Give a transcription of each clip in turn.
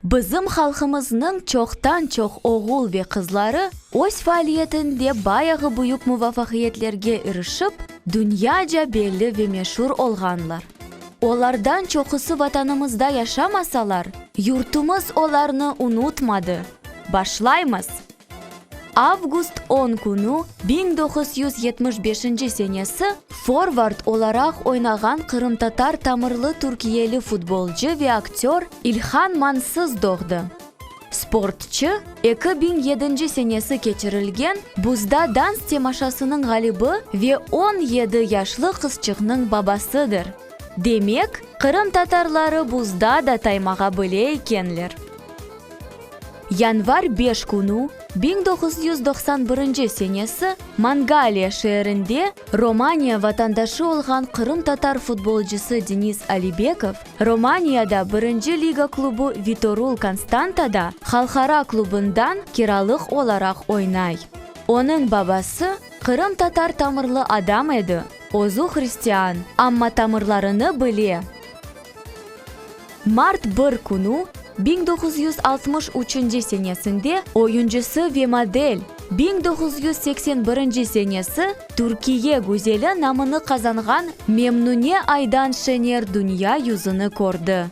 Bizim halqımıznıñ çoqtan-çoq oğul ve qızları öz faaliyetinde bayağı büyük muvafaqiyetlerge irişip, dünyaca belli ve meşur olğanlar. Olardan çoqusı Vatanımızda yaşamasalar, yurtumız olarnı unutmadı. Başlaymız! Avgust on künü biñ doquz yüz yetmiş beşinci senesi forvard olaraq oynağan qırımtatar tamırlı türkiyeli futbolcı ve aktör İlhan Mansız doğdı. Sportçı, eki biñ yedinci senesi keçirilgen Buzda dans temaşasınıñ ğalibi ve on yedi yaşlı qızçıqnıñ babasıdır. Demek, qırımtatarları buzda da taymağa bile ekenler. Yanvar beş künü, biñ doquz yüz doqsan birinci senesi, Mangaliya şeerinde Romaniya vatandaşı olğan qırımtatar futbolcısı Denis Alibekov Romaniyada birinci liga klubu Vitorul Konstantada halqara klubından kiralıq olaraq oynay. Onıñ babası qırımtatar tamırlı adam edi, özü hristian, amma tamırlarını bile. Mart bir künü, biñ doquz yüz altmış üçünci senesinde, oyuncısı ve model, biñ doquz yüz seksen birinci senesi, Türkiye güzeli namını qazanğan Memnune Aydan Şener dünya yüzüni kördi.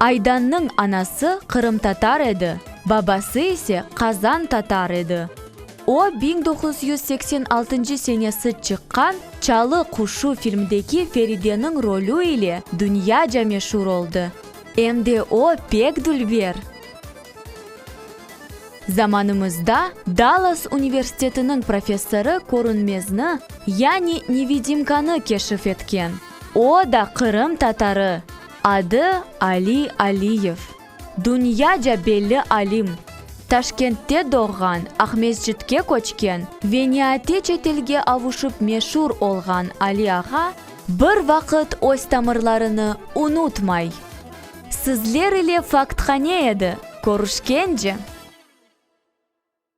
Aydannıñ anası qırımtatar edi, babası ise qazan tatar edi. O, biñ doquz yüz seksen altıncı senesi çıqqan Çalı quşu filmdeki Ferideniñ rolü ile dünyaca meşur oldı. Em de o, pek dülber! Zamanımızda Dallas universitetiniñ professorı körünmezni, yani nevidimkanı keşif etken. O da qırım tatarı, adı Ali Aliyev. Dünyaca belli alim, Taşkentte doğğan, Aqmescitke köçken ve niaate çetelge avuşıp meşur olğan Ali ağa bir vaqıt öz tamırlarını unutmay. Sizler ile faktqa ne edi, körüşkence!